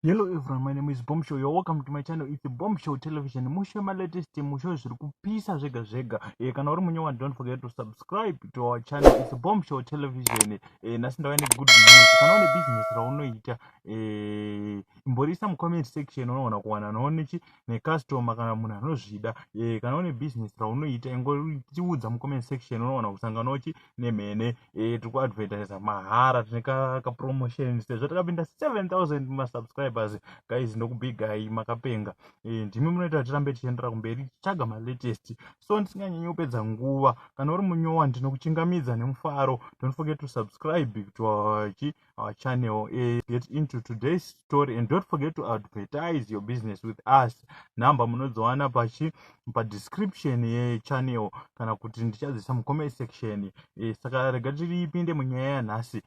Hello everyone, my name is Bomb Show. You're welcome to my channel. It's a Bomb Show Television. Mushe my latest musho zviri kupisa zvega zvega. Eh kana uri munyewa don't forget to subscribe to our channel. It's a Bomb Show Television. Eh nasi ndava good news. Kana une business raunoita eh imborisa mu comment section unoona kuwana noone chi necustomer kana munhu anozvida e, kana une business raunoita ingotiudza mucomment section unowana kusangana uchi nemhene e, tiri kuadvertisa mahara tine kapromotion sezvo takapinda 7000 masubscribers guys ndokubigai makapenga e, ndimi munoita kuti tirambe tichiendera kumberi tichitsvaga malatest so ndisinganyanyi kupedza nguva kana uri munyowa ndinokuchingamidza nemufaro don't forget to subscribe to our our channel uh, get into today's story and don't forget to advertise your business with us number munozowana pachi padescription yechannel kana kuti ndichadzisa mucomment section uh, saka rega tiripinde munyaya yanhasi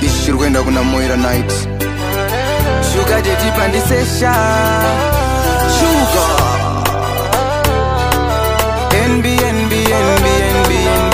ichi chiri kuenda kuna moira night shuga tetipa ndisesha shuga nbnbnbnbnb